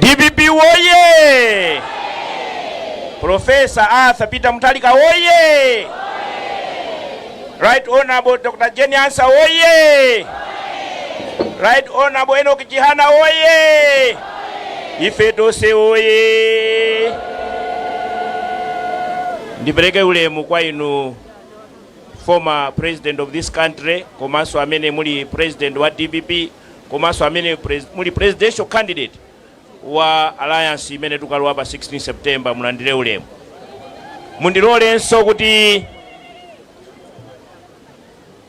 dpp woye profesa arthur peter muthalika woye right honorable dr jane ansa woye right honorable enoch chihana woye ife tonse woye ndipereke ulemu kwa inu former president of this country komanso amene muli president wa dpp komanso amene muli presidential candidate wa alliance imene tikulowa pa 16 September mulandire ulemu. Mundilolenso kuti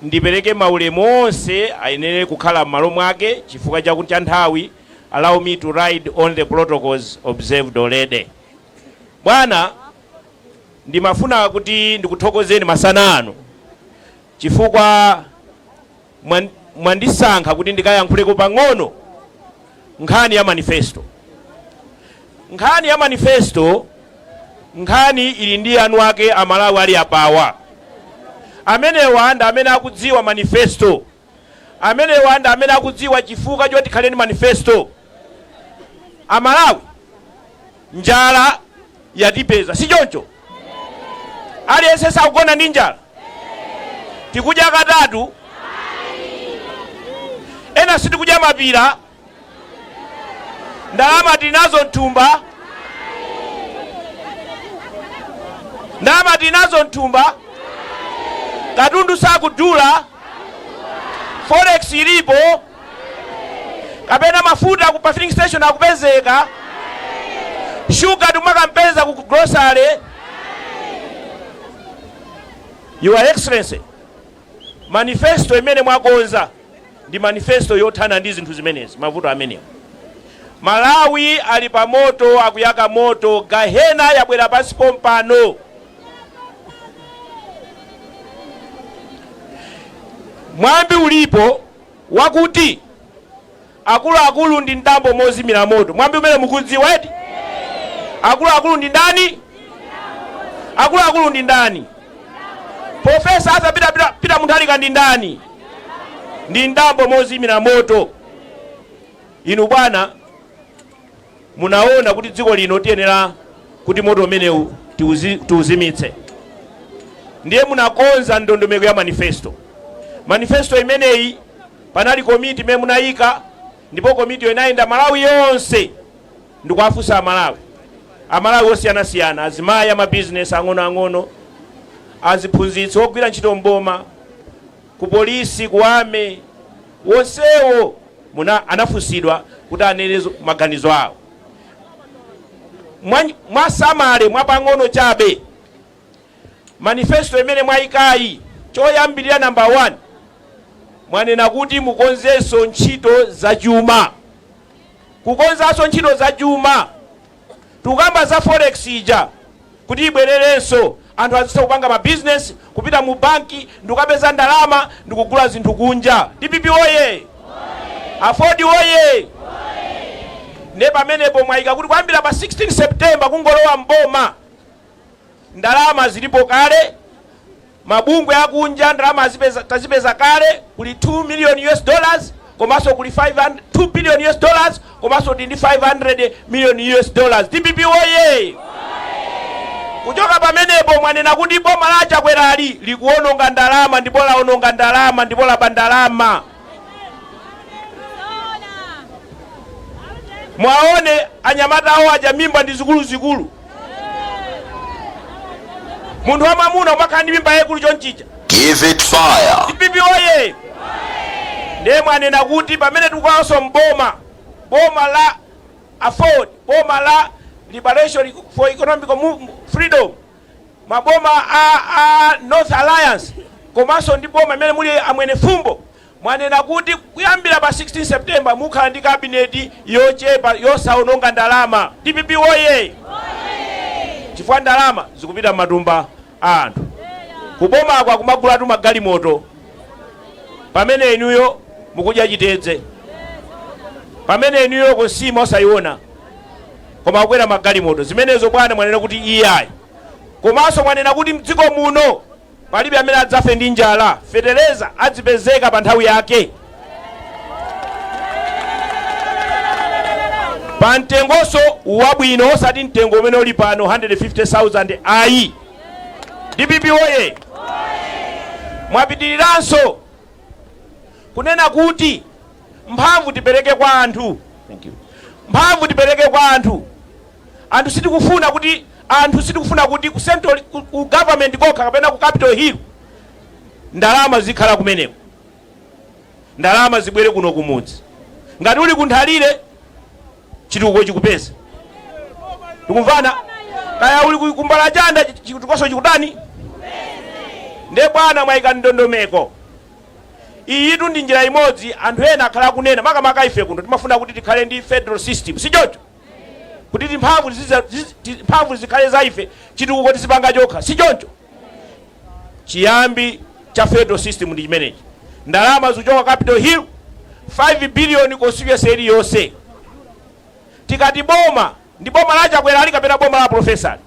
ndipereke maulemu onse ayenera kukhala m'malo mwake chifukwa cha nthawi. Allow me to ride on the protocols observed already. Bwana, ndimafuna kuti ndikuthokozeni masana ano chifukwa mwandisankha kuti ndikayankhuleko pang'ono nkhani ya manifesto. Nkhani ya manifesto, nkhani ili ndi eni ake a Malawi ali apawa. Amenewa ndi amene akudziwa manifesto. Amenewa ndi amene akudziwa chifukwa choti tikhale ndi manifesto. A Malawi, Njala yatipeza, si choncho? Aliyense sakugona ndi njala? Tikudya katatu, ena sitikudya mapira. Ndalama tili nazo mthumba, ndalama tili nazo mthumba, katundu sakudula, forex ilipo. kapena mafuta ku pa filling station akupezeka shuga tikumampeza ku grocery your excellency manifesto imene mwakonza ndi manifesto yothana ndi zinthu zimenezi mavuto amenewa malawi ali pa moto akuyaka moto gahena yabwera pansi pompano mwambi ulipo wakuti Akuluakulu ndi mdambo mozimira moto. Mwambi umenewu mukuudziwa eti? Akuluakulu ndi ndani? Akuluakulu ndi ndani? Profesa Arthur Peter Muntharika ndi ndani? Ndi mdambo mozimira moto. Inu bwana, Munaona kuti dziko lino tiyenera kuti moto umenewu tiuzimitse ndiye munakonza ndondomeko ya manifesto. Manifesto imeneyi panali komiti imene munayika ndipo komitiyo inayenda Malawi yonse ndikuwafunsa Amalawi, Amalawi osiyanasiyana, azimayi, amabizinesi ang'onoang'ono, aziphunzitsi, ogwira ntchito m'boma, ku police, ku army wonsewo munja anafunsidwa kuti anene maganizo awo mwasamala mwa pang'ono chabe manifesto imene mwayikayi choyambilira number one mwanena kuti mukonzenso ntchito za chuma kukonzanso ntchito za chuma Tikukamba za forex ija kuti ibwererenso anthu azitha kupanga ma business, kupita mu banki ndikukapeza ndalama ndikugula zinthu kunja. Dpp woyee! Aford woyee! Ndiye pamenepo mwayika kuti kuyambira pa 16 September kungolowa m'boma. Ndalama zilipo kale, mabungwe akunja ndalama tazipeza kale, kuli 2 million US dollars komanso kuli 500, 2 billion US dollars komanso ndi 500 million US dollars. DPP woye! Kuchoka pamenepo mwanena kuti boma la a Chakwerali likuononga ndalama ndipo laononga ndalama ndipo laba ndalama. mwaone anyamata awo aja mimba ndi zikuluzikulu munthu wamwamuna umakhala ndi mimba yayikulu chonchija Give it fire. DPP woye ndiye mwanena kuti pamene tikukalowanso m'boma boma la Aford boma la liberation for economic Mo- freedom maboma a North Alliance komanso ndi boma limene muli a Mwenefumbo mwanena kuti kuyambira pa 16 September mukhala ndi kabineti yochepa yosaononga ndalama. Dpp woyee! Chifukwa ndalama zikupita m'matumba a anthu. Kubomaku akumagulatu magalimoto pamene inuyo mukudya chitedze, pamene inuyo nsima osaiona. koma akukwera magalimoto. Zimenezo bwana mwanena kuti iyayi. Komanso mwanena kuti mdziko muno palibe amene adzafe ndi njala, fetereza adzipezeka pa nthawi yake. Pa mtengonso wabwino osati mtengo umene uli pano 150,000 ayi. DPP woye! Mwapitiriranso kunena kuti mphamvu tipereke kwa anthu thank you mphamvu tipereke kwa anthu anthu sitikufuna kuti anthu sitikufuna kuti ku central ku, ku government kokha kapena ku capital hill ndalama zizikhala kumeneko ndalama zibwere kuno kumudzi ngati uli ku Nthalire chitukuko chikupeza tikumvana kaya uli ku- ku Mbalachanda chitukukonso chikutani nde bwana mwayika ndondomeko Iyitu ndi njira imodzi anthu ena akhala akunena makamaka ife kuno timafuna kuti tikhale ndi federal system sichoncho? Kuti timphamvu zikhale za ife chitukuko tizipanga tokha sichoncho? Chiyambi cha federal system ndi chimenechi ndalama zikuchoka capital hill 5 billion constituency iliyonse tikati boma Ndi boma la Chakwera ili kapena boma la pulofesa?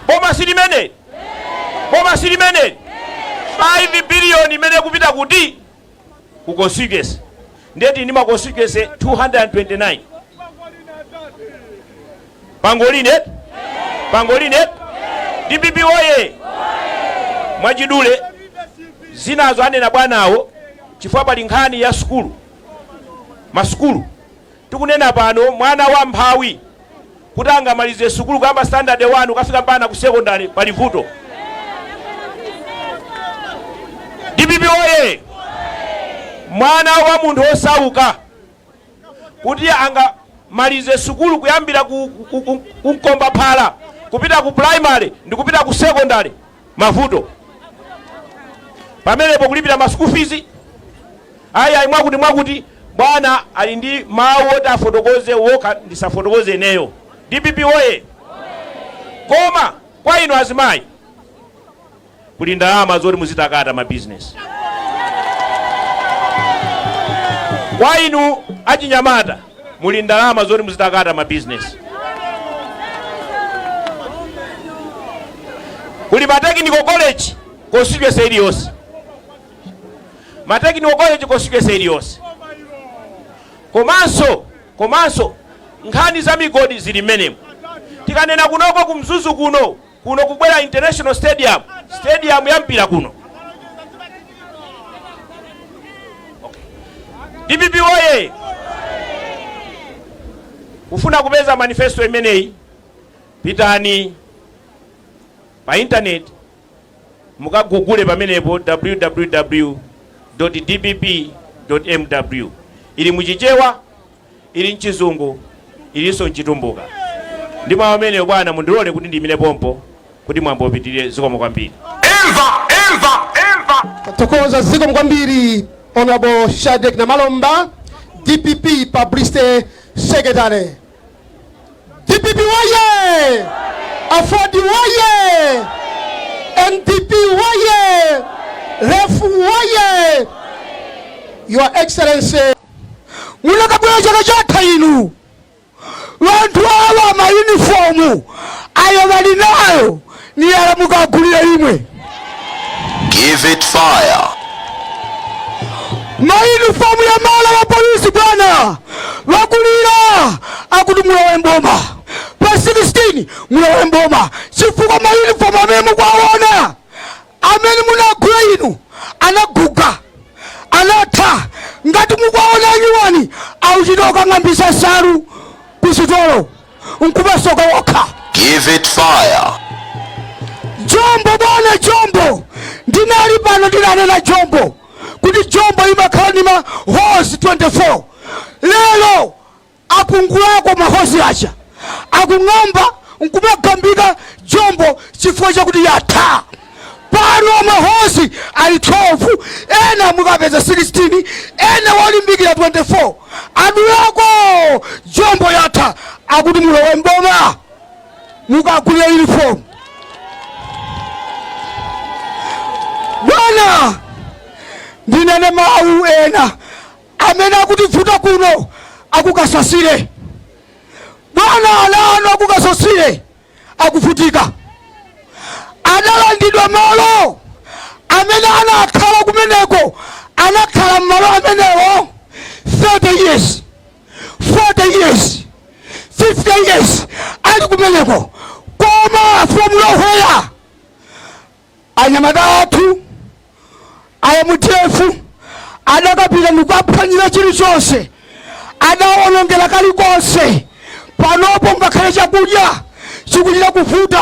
Boma silimeneli? Boma silimeneli? 5 billion imene ikupita kuti? Ku constituency. Ndiye tili ndi ma constituency 229. Pangolini, pangolini eti? DPP oye! Mwachidule zinazo anena bwanawo chifukwa pali nkhani ya sukulu. Masukulu Tikunena pano mwana wa mphawi kuti angamalize sukulu kuyamba standard 1 kukafika mpakana ku secondary pali vuto? Dpp woyee! Mwana wa munthu wosauka kuti angamalize sukulu kuyambira ku mkombaphala kupita ku primary ndikupita ku secondary mavuto pamenepo kulipira ma school fees ayi ayi mwakuti mwakuti bwana ali ndi mawu oti afotokoze okha ndisafotokoze ineyo dpp oye koma kwa inu azimayi kuli ndalama zoti muzitakata ma business kwa inu achinyamata kuli ndalama zoti muzitakata ma business kuli ma technical college constituency iliyonse ma technical college constituency iliyonse komanso komanso nkhani za migodi zili mmenemo tikanena kunoko kumzuzu kuno Kuno kubwera international stadium, stadium ya mpira kuno. Dpp woye! Kufuna kupeza manifesto imeneyi, pitani pa internet mukagugule pamenepo www.dpp.mw ili muchichewa Ili m'Chizungu, ilinso m'Chitumbuka. Ndi mawu amenewo, bwana, mundilole kuti ndiimire pompo kuti mwambo upitirire. Zikomo kwambiri. Imva! Imva! Imva! Tathokoza. Zikomo kwambiri Hon. Shadric Namalomba, dpp Publicity Secretary. Dpp woye! Aford woye! NDP woye! Ref woye! Your Excellency munakabwera chaka chatha inu wanthu awa mayunifomu ayo wali nayo ni yala mukagulira imwe Give it fire. mayunifomu yamala wa polisi bwana wakulira akuti mulowe mboma pa 16 mulowe mboma chifukwa mayunifomu amene mukuwaona Amene munagula inu anaguga, anatha, ngati mukwaona anyuwani akuchita kukang'ambitsa nsalu ku sitolo nkumasoka okha. Give it fire. Jombo bwana jombo ndinali pano ndinanena jombo kuti jombo imakhala ndi ma holes 24 lero Apungulako mahosi aja akung'amba nkumagambika jombo chifukwa chakuti yatha. Pano mahosi ali 12, ena mukapeza 16, ena wolimbikira 24. Adulako jombo yatha, akuti mulowe mboma mukagulire uniform. Bwana, ndinene mawu ena Amene akutibvuta kuno a ku Kasasile bwana ana anu a ku Kasasile akuvutika adalandidwa malo amene anakhala kumeneko anakhala mmalo amenewo 30 years 40 years 50 years ali kumeneko koma from nowhere Anyamata athu a mdf adakapita ndikuwaphwanyira chilichonse, adawawonongera kalikonse. Panopo ngakhale chakudya chikuchita kuvuta.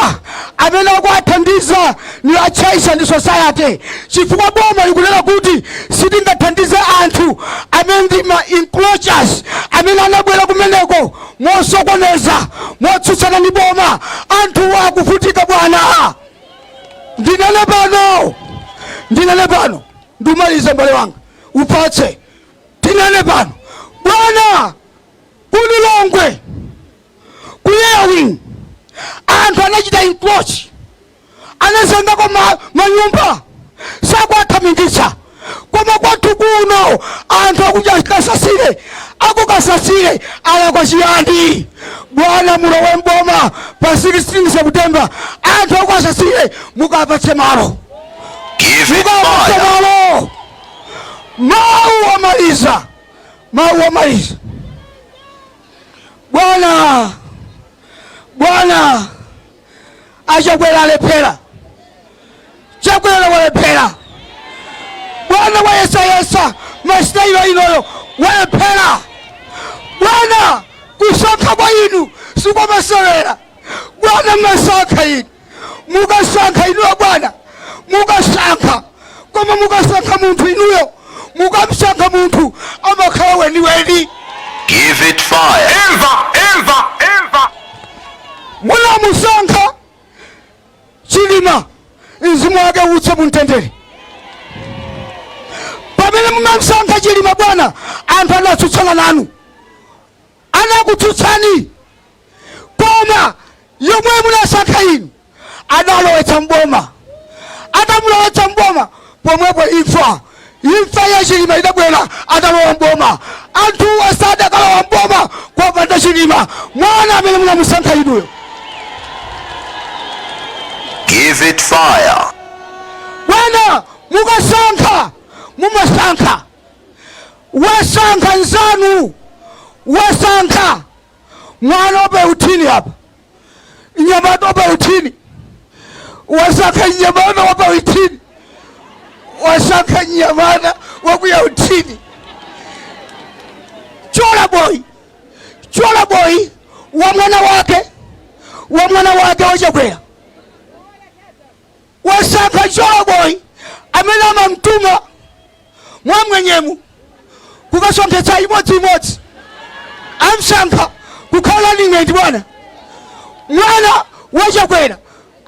Amene akuwathandiza ndi a Church and Society chifukwa boma likunena kuti sitingathandize anthu amene ndi ma encroachers amene anabwera kumeneko mosokoneza, motsutsana ndi boma. Anthuwa akuvutika bwana. ndinene pano ndinene pano ndimalize mbale wanga ufatse ndinene pano bwana ku Lilongwe ku Airwing anthu anachita encroach anazengako ma, manyumba sakuwathamingitsa koma kwathu kuno anthu akuja Kasasile a ku Kasasile alakwa chiyani bwana mulowe mboma pa 16 september anthu a ku Kasasile mukapatse malo Give it mukapatse fire. malo mawu omaliza mawu omaliza bwana bwana a Chakwera alephera Chakwera walephera bwana wayesayesa masitayilo inuyo walephera bwana kusankha kwa inu sikwamasewera bwana mwasankha inu mukasankha inuyo bwana mukasankha koma mukasankha munthu inuyo mukamsankha munthu amakhala weniweni Give it fire. Imva, imva, imva. munamusankha Chilima mzimu wake uuse mumtendere pamene munamsankha Chilima bwana anthu anatsutsana nanu. anakutsutsani koma yemwe munasankha inu adalowetsa m'boma atamulowetsa m'boma pomwepo imfa imfa ya Chilima idabwera atalowa m'boma anthuwa sadakalowa m'boma kopanda Chilima mwana amene munamusankha inuyo Give it fire. bwana mukasankha mumasankha wasankha nzanu wasankha mwana wapautini apa nyamata wapautini wasankha nyamata wapautini wasankha nyamata wakuya utini chola boyi chola boyi wa mwana wake wa mwana wake wachakwera Wasankha Joe Boi amene amatumwa mwam'mwenyemu kukasonkhetsa imodzi imodzi. Amsankha kukhala running mate bwana. Mwana wa Chakwera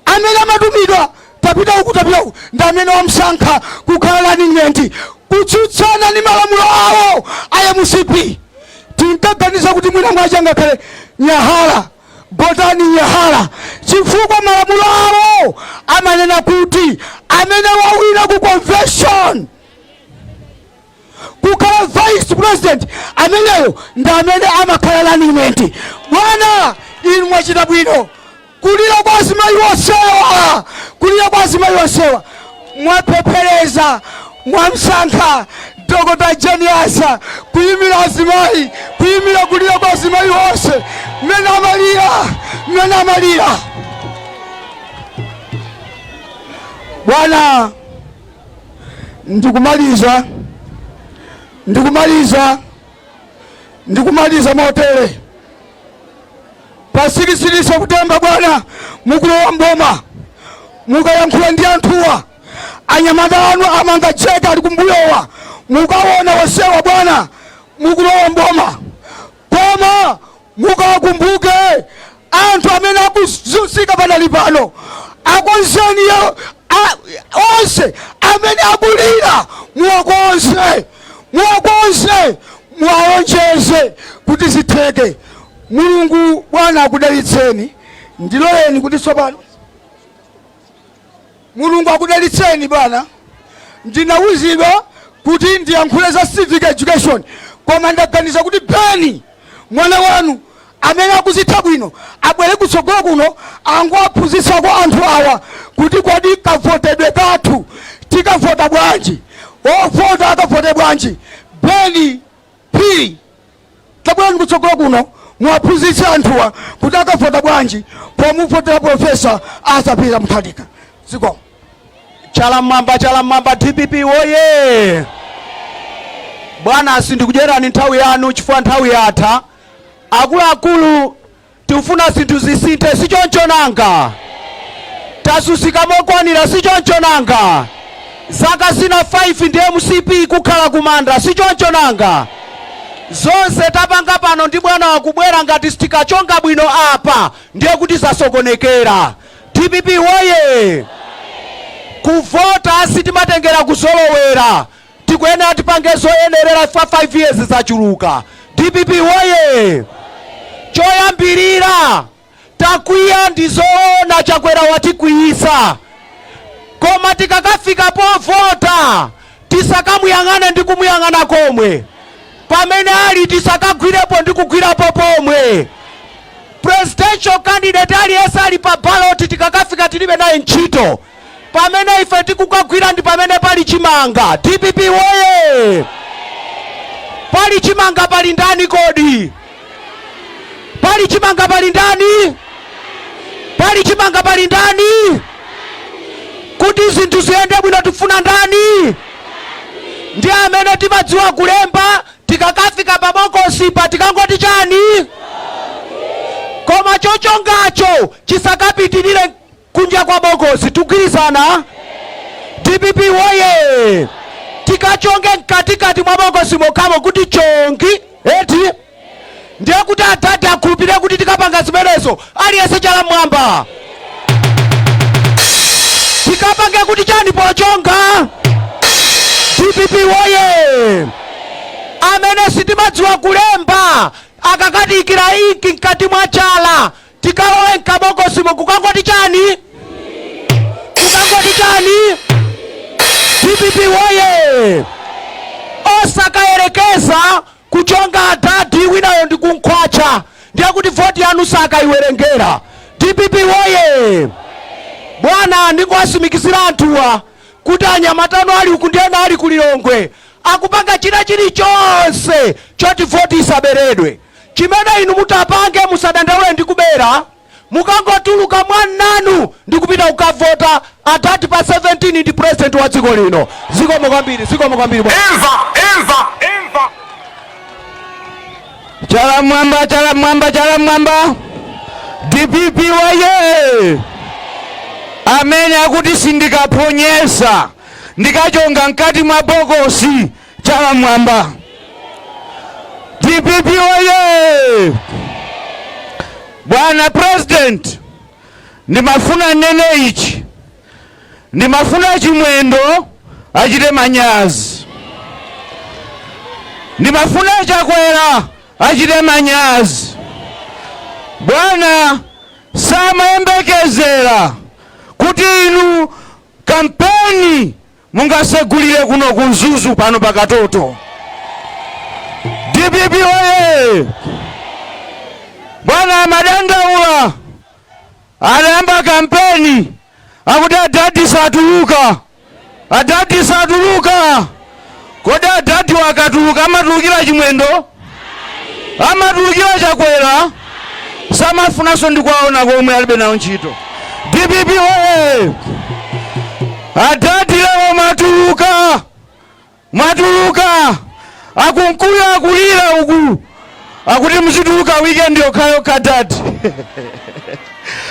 amene amatumidwa tapita uku tapita uku ndi amene wamsankha kukhala running mate kutsutsana ndi malamulo awo a MCP. Tinkaganiza kuti mwina mwina ngakhale Nyahala Gotani Nyahala chifukwa malamulo awo amanena kuti amene wawina ku convention kukhala vice president ameneyo ndi amene amakhala running mate. Bwana inu mwachita bwino kulira kwa azimayi onsewa, kulira kwa azimayi onsewa. Mwapepeleza mwamsankha Dokota Jane Ansah kuyimira azimayi, kuyimira kulira kwa azimayi onse mmene amalira, mmene amalira. Bwana, ndikumaliza, ndikumaliza, ndikumaliza motere. Pa 16 September bwana, mukulowa mboma mukayankhula ndi anthuwa, anyamata anu amanga jeta ali kumbuyowa, mukaona onsewa bwana, mukulowa mboma koma mukawakumbuke anthu amene akuzunzika panali pano akonzeni yo- a- onse amene akulira muwakonze muwakonze muwalonjeze kuti zitheke Mulungu, Bwana akudalitseni. Ndiloleni kuti tsopano. Mulungu akudalitseni, bwana. Ndinauzidwa kuti ndiyankhule za civic education, koma ndaganiza kuti Beni, mwana wanu amene akuzitha bwino, abwere kutsogolo kuno angowaphunzitsako anthu awa kuti kodi kavotedwe kathu, tikavota bwanji, ovota akavote bwanji. Beni Phiri, Tabwerani kutsogolo kuno muwaphunzitse anthuwa kuti akavota bwanji pomuvotera Profesa Arthur Peter Mutharika. Zikomo. Chala mmwamba, chala mmwamba, dpp woye! Bwana, sindikudyerani nthawi yanu chifukwa nthawi yatha. Akuluakulu Tikufuna zinthu zisinthe, si choncho nanga? Tazunzika mokwanira, si choncho nanga? Zaka zina 5 ndi mcp nkukhala kumanda, si choncho nanga? Zonse tapanga pano ndi bwana wakubwera, ngati sitikachonga bwino apa ndiye kuti zasokonekera. Dpp woyee! Kuvota sitimatengera kuzolowera. Tikuyenera tipange zoyenerera chifukwa 5 years zachuluka. Dpp woyee! Choyambirira takwiya ndi zoona Chakwera watikwiyitsa koma tikakafika povota tisakamuyang'ane ndi kumuyang'ana komwe pamene ali tisakagwirepo ndi kugwirapo pomwe. Presidential candidate aliyense ali pa ballot tikakafika tilibe naye ntchito. pamene ife tikukagwira ndi pamene pali chimanga dpp woye pali chimanga pali ndani kodi pali chimanga pali ndani pali chimanga pali ndani kuti zinthu ziyende bwino tifuna ndani ndi amene timadziwa kulemba tikakafika pa bokosipo tikangoti chani koma chochongacho chisakapitirire kunja kwa bokosi tikugwirizana dpp woye tikachonge mkatikati mwa bokosimo mokhamo kuti chongi eti ndiye kuti adadi akhulupirire kuti tikapanga zimenezo aliyense chala mwamba tikapange kuti chani pochonga dpp woye amene sitimadziwa kulemba akakathira inki mkati mwa chala tikalowa mkabokosimo kukangoti chani kukangoti chani dpp woye osakayerekeza kuchonga adadi winayo ndi kumukhwatcha ndiye kuti voti yanu sakayiwerengera dpp woye bwana ndingowatsimikizira anthuwa kuti anyamata anu ali uku ndi ena ali ku lilongwe akupanga china chilichonse choti voti isaberedwe Chimene inu mutapange musadandaule ndi kubera mukangotuluka mwamanu ndikupita kukavota adad pa 17 ndi president wa dziko lino zikomo kwambiri zikomo kwambiri bwana. Imva, imva, imva. Chala mwamba, chala mwamba, chala mwamba. DPP woye. Amene akuti sindikaphonyesa ndikachonga mkati mwa bokosi chala mwamba dpp oye bwana president ndimafuna ndinene ichi ndimafuna chimwendo achite manyazi ndimafuna chakwera achite manyazi bwana samayembekezera kuti inu kampeni Mungasegulire kuno ku Mzuzu pano pa Katoto. DPP oye! Bwana amadandaula anayamba kampeni akuti adadi satuluka, adadi satuluka. Kodi adadiwa akatuluka amatulukira chimwendo? Ayi. Amatulukira chakwera? Ayi. Samafunanso ndi kwaona komwe alibe nawo ntchito. Dpp oye! Adadi lero mwatuluka, mwatuluka, Ankukuyu akulira uku akuti muzituluka weekend yokhayokha dadi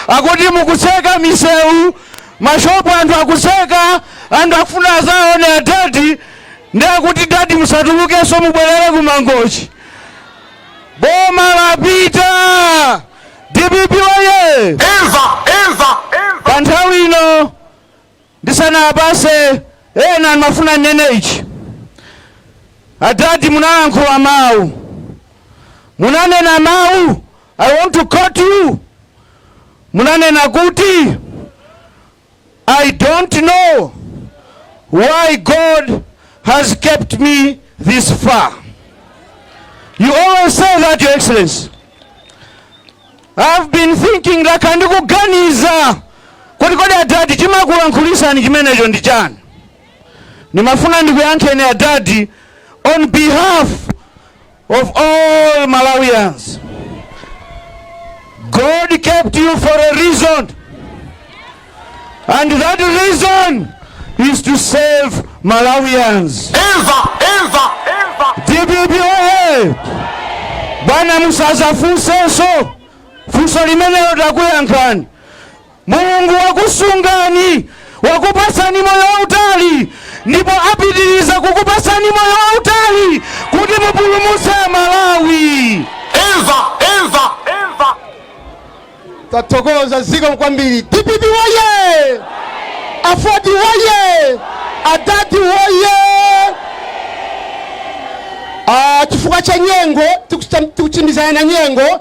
akuti mukutseka misewu Mashop anthu akutseka anthu akufuna azaone a dad nde akuti dad musatulukeso mubwelele ku mangochi boma lapita dpp woye imva imva pa nthawi ino ndisanapatse ena ndimafuna nnene ichi adadi munalankhula mawu munanena mawu i want to quote you Munanena kuti, I don't know why God has kept me this far. You always say that, Your Excellency. I've been thinking like ndikuganiza kuti kodi adadi chimakulankhulitsani chimenecho ndi chani ndimafuna ndikuyankheni adadi on behalf of all Malawians. God kept you for a reason. And that reason is to save Malawians. Eva, Eva, Eva. DPP oye! Bwana musazafunsenso funso limenelo takuyankhani. Mulungu wakusungani, wakupatsani moyo wautali ndipo apitiriza kukupatsani moyo wautali kuti mupulumutse Amalawi. Imva, imva, imva. Tathokoza zikomo kwambiri. DPP woye! Afodi woye! Adadi woye! Ah, chifukwa cha nyengo tikuchita- tikulimbana na nyengo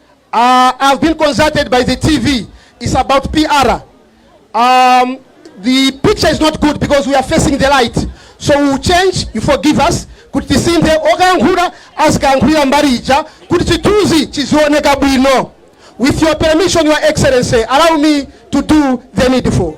uh, I've been consulted by the TV. It's about PR. Um, the picture is not good because we are facing the light. So we will change, you forgive us. kuti tisinthe okayankhula azikayankhulira mbali ija kuti chithunzi chizioneka bwino with your permission your excellency allow me to do the needful